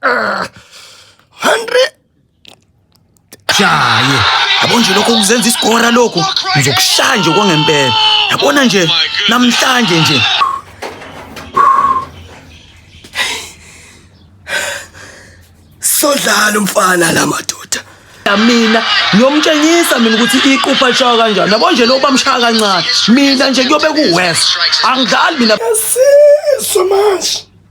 100 shaye yabo nje lokho kuzenza isigora lokho ngizokushaya nje kwangempela yabona nje namhlanje nje sodlala umfana la madoda mina ngiyomtshengisa mina ukuthi iqupha lishaya kanjani yabo nje lokho bamshaya kancane mina nje kuyobe kuwest angidlali mina Yes, so much.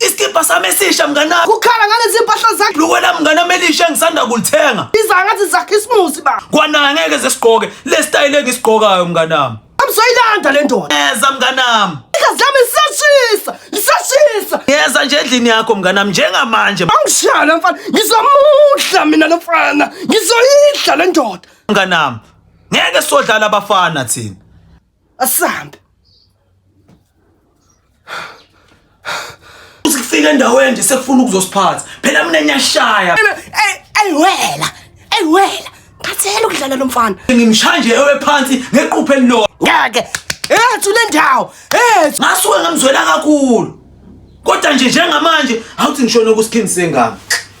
Isikibha sami esisha mnganami. Kukhala ngalezi mpahla zakhe. Bhlukwe lami mnganami elisha engisanda kulithenga. Iza ngathi zakhe isimuzi ba. Kwana ngeke zesigqoke le style engisigqokayo mnganami. Amzoyilanda le ndoda. Yeza mnganami. Igazi lami lisashisa, lisashisa. Yeza nje endlini yakho mnganami njengamanje. Angishaya lo mfana. Ngizomudla mina lo mfana. Ngizoyidla le ndoda. Mnganami. Ngeke sodlala abafana thina. asihambe usikufika endaweni nje sekufuna ukuzosiphatha phela mina ngiyashaya eyiwela eyiwela khathele ukudlala lo mfana ngimshaya nje ewe phansi ngequphe elilodwa ngeke ethu le ndawo ethu ngasuke ngamzwela kakhulu kodwa nje njengamanje awuthi ngisho nokusikhini sengama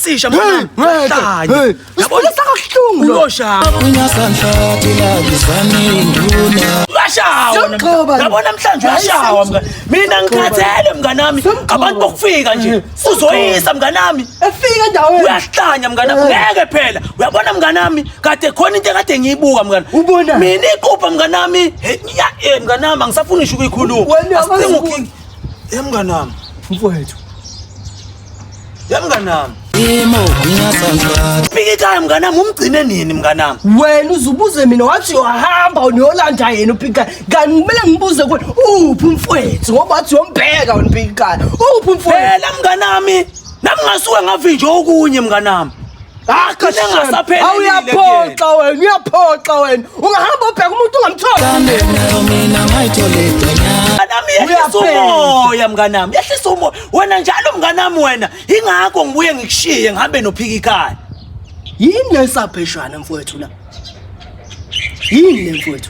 sisha mama hlanya yabona sakuhlungu lo shaka kunyasanhlathi labizani nduna uyashawa Siyamgxoba. yabona namhlanje uyashawa mngani mina ngikhathele mnganami Siyamgxoba. abantu bokufika nje uzoyisa mnganami efika endaweni uyahlanya mnganami Eh. ngeke phela uyabona mnganami kade khona into ekade ngiyibuka mngani Ubona? mina iqupha mnganami He, ya- eh, mnganami angisafuni ngisho ukuyikhuluma Wena Asidingi yabazi ukhi- Eh, mnganami mfowethu yamnganami fika ikhaya mnganami umgcine nini mnganami wena uzubuze mina wathi wahamba uyolanda yena uphika kanti kumele ngibuze kuwe uphi umfwethu ngoba wathi uyombheka wena uphika ikhaya uphi umfwethu phela mnganami nami ngasuke ngavinjwa okunye mnganami awuyaphoxa wena uyaphoxa wena ungahamba ubheka umuntu ungamtholi mnganami yehlisa umoya mnganami yehlisa umoya wena njalo mnganami wena ingakho ngibuye ngikushiye ngihambe nophika ikhaya yini lesabheshwana mfowethu la yini le mfowethu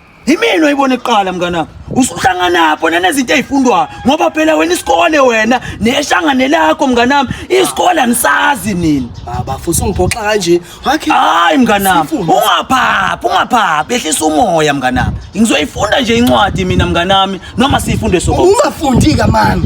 Yimina oyibona eqala mnganami. Usuhlanganapho nanezinto ezifundwayo ngoba phela wena isikole wena neshangane lakho mnganami isikole anisazi nini. Baba futhi ungiphoxa kanje. Hakhe. Hayi mnganami. Ungaphaphi, ungaphaphi ehlisa umoya mnganami. Ngizoyifunda nje incwadi mina mnganami noma siyifunde sokho. Ungafundi ka mama.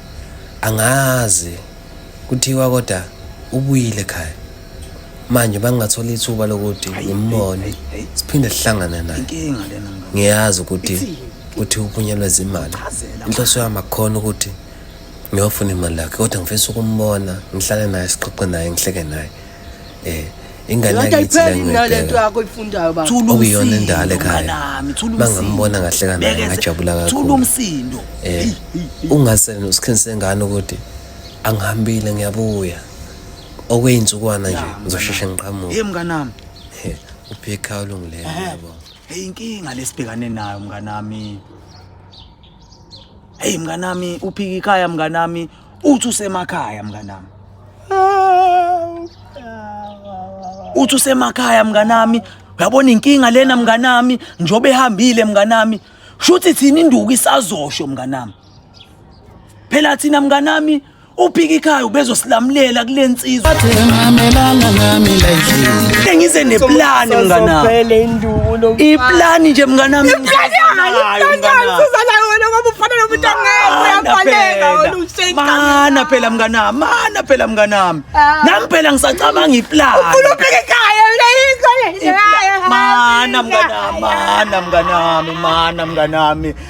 angazi kuthiwa kodwa ubuyile ekhaya manje bangingathola ithuba lokuthi ngimbone siphinde sihlangane naye ngiyazi ukuthi uthi uphunyelwe zimali inhloso yami akukhona ukuthi ngiyofuna imali yakhe kodwa ngifisa ukumbona ngihlale naye sixoxe naye ngihleke naye eh ingane yakithilanto yakho ifundayo baba okuyona endala ekhaya mangambona ngahleka naye ngajabula kakhulu umsindo eh ungase nosikhense ngane ukuthi angihambile ngiyabuya okweyintsukwana nje ngizosheshe ngiqhamuke hey mnganami uphikha olungileyo yabo hey inkinga lesibhekane nayo mnganami hey mnganami uphika ikhaya mnganami Uthi usemakhaya mnganami. Uthi usemakhaya mnganami. Uyabona inkinga lena mnganami, njobe ehambile mnganami. Shuthi thina induku isazosho mnganami. Phela thina mnganami uphika ikhaya ubezosilamulela kule nsizwa. Mamelana nami la endlini. Ngize neplani mnganami. Iplani nje mnganami mana phela mnganami mana phela mnganami ah. nami phela ngisacabanga iplani mana mnganami mana mnganami mana mnganami